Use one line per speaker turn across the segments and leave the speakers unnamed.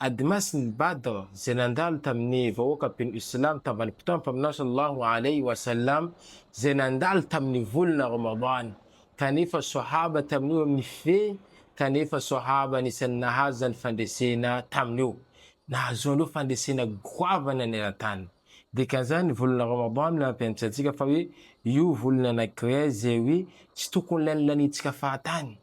Adimasin'ny Badr izay nandalo tamin'ny vahoaka mpino Islamo tavan'ny Mpitondra Mpaminany Sallallahu Alaihi Wasallam izay nandalo tamin'ny volana Ramadan kanefa Sahaba tamin'io amin'ny fe kanefa Sahaba anisan'ny nahazo izany fandresena tamin'io nahazoany ireo fandresena goavana eran-tany. Dikan'izany ny volana Ramadan no nampianatra antsika fa hoe io volana anankiray izay hoe tsy tokony lanilanintsika fahatany.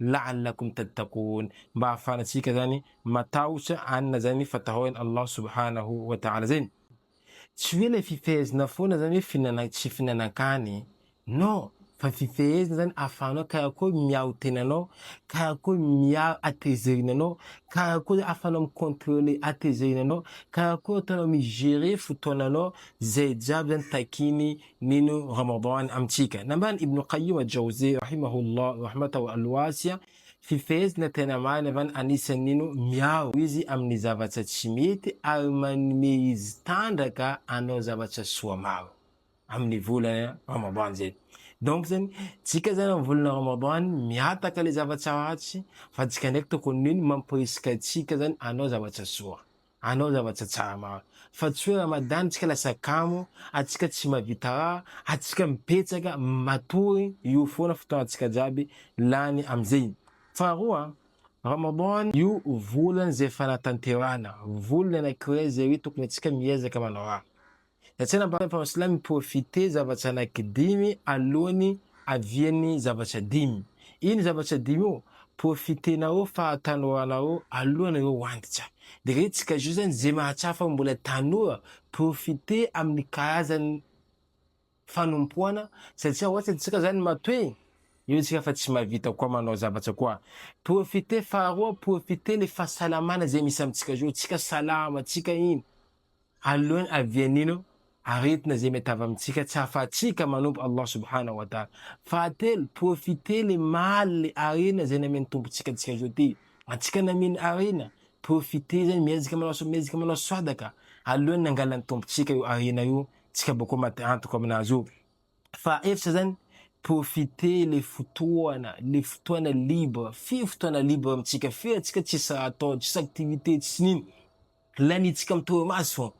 lalina koa mitady takony mba hahafahantsika zany matahotra anina zany fatahoan'i Allah subhanahu wa ta'ala zegny. Tsy hoe le fifehezana foana zany hoe fihinana tsy fihinanan-kany non fa fifehezana zany ahafahanao karakory miaro tenanao, karakory miaro hatezerina anao, karakory ahafahanao mi-controler hatezerina anao, karakory ataonao mi-gerer fotoananao, zay jiaby zany takin'i Mino Ramadan amintsika. Nambaran'i Ibn Qayyim al-Jawziyy rahimahullah rahmatahu al-wasi'a, Fifehezana tena marina van anisan'ny mino miaro izy amin'ny zavatra tsy mety ary manome izy tandraka hanao zavatra soa maro amin'ny volana Ramadan zay. Donc zany, tsika zany amin'ny volana Ramadan mihataka le zavatra ratsy fa tsika ndraiky tokony mino mamporisika antsika zany hanao zavatra soa. Anao zavatra tsara maro fa tsy hoe Ramadan tsika lasa kamo atsika tsy mavita raha atsika mipetsaka matory io foana fotoana tsika jiaby lany amzey faharoa Ramadan io volany zay fanatanterahana volany anakirey zay hoe tokony atsika miezaka manao raha Ny tsenam-bahoaka efa mahasolay mi-profiter zavatra anankidimy alohan'ny havian'ny zavatra dimy. Iny zavatra dimy io, profiter-nao fa tanoranao alohan'ireo wantitra. Dia re tsy kajou zany ze mahatsapa fa mbola tanora, profiter amin'ny karazan'ny fanompoana satria hoatry ny antsika zany matoy eo isika fa tsy mahavita koa manao zavatra koa. Profiter faharoa, profiter le fahasalamana ze misy amintsika zao, tsika salama, tsika iny. Aloany avian'ino aretina izay mety avy amintsika tsy ahafahantsika manompo Allah subhanahu wa ta'ala. Fahatelo, profiter le maly le harena izay namen'ny Tompontsika antsika zao ty. Antsika nameno harena, profiter zany miezaka manao miezaka manao swadaka aloany nangalan'ny Tompontsika io harena io tsika bakeo maty antoka aminazy io. Fahaefatra zany, profiter le fotoana, le fotoana libre, firy fotoana libre amintsika, firy antsika tsisy raha atao, tsisy activité, tsisy nino. Laniantsika mitohy maso,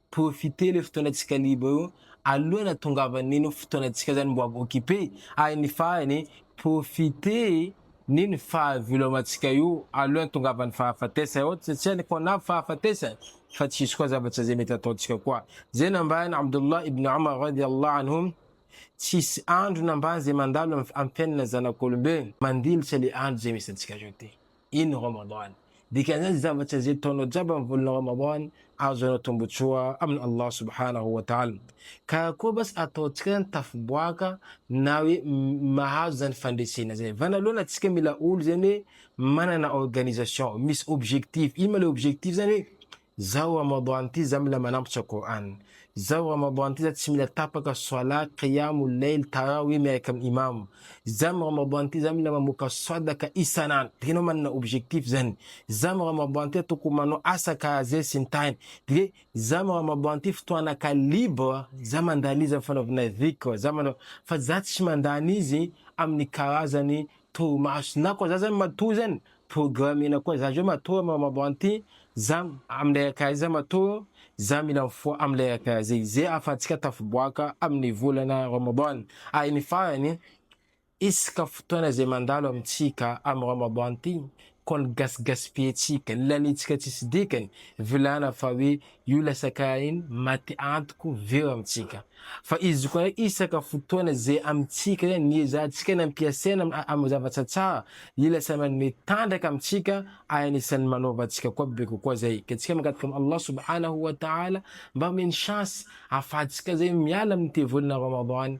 profiter le fotoanantsika libre io alohan'ny hatongavan'iny fotoanantsika zany mbo occupe ary ny farany profiter ny ny fahavelomantsika io alohan'ny tongavan'ny fahafatesana ohatra satsia ny koa na fahafatesana fa tsy hisy koa zavatra zay mety ataontsika koa zay nambaran'i Abdullah ibn Omar radiallahu anhum tsisy andro nambany zay mandalo am fiainana zanak'olombelona mandilitra le andro zay misy antsika zao ty. iny Ramadan. Dikan'izany zavatra izay ataonao jiaby amin'ny volana Ramadan ahazoanao tombotsoa amin'i Allah subhanahu wa ta'ala. Ka akory basy ataontsika izany tafiboaka na hoe mahazo izany fandresena izany. Vanaloana tsika mila olo izany hoe manana organisation, misy objectif. Ino ma le objectif izany hoe Zao Ramadan ty za mila manampy tsao Qur'an. Zao Ramadan ty za tsy mila tapaka Salat, Qiyam ul-Layl, Tarawih miaraka am Imam. Za am Ramadan ty za mila mamoaka Sadaka isan'andro. Dia enao manana objectif zany. Za am Ramadan ty tokony manao asa karaze sy ny tariny. Dia za am Ramadan ty fotoana ka libre za mandany izy am fanaovana Dhikr, za manao fa za tsy mandany izy amin'ny karazany torimaso. Na koa za zany matoa zany Programena koa zany hoe matoa mamabo anty zam amle akaiza matoa za mila mifoha amle akaiza ize ahafahantsika tafiboaka aminy volana Ramadan ary ny farany isaka fotoana zay mandalo amitsika amy Ramadan ty koa ny gasy gaspilletsika ny lalintsika tsisy dikany vilana fa hoe Io ilay sakain maty antoko vero amintsika. Fa izy koa isaka fotoana izay amintsika ihany ny ezahantsika ny ampiasaina amin'ny zavatra tsara Io lasa manome tanjaka amintsika ary anisan'ny manaova antsika koa be kokoa zay ka tsika mangataka amin'i Allah subhanahu wa ta'ala mba omeny chance afahantsika zay miala amin'ny tevolana Ramadany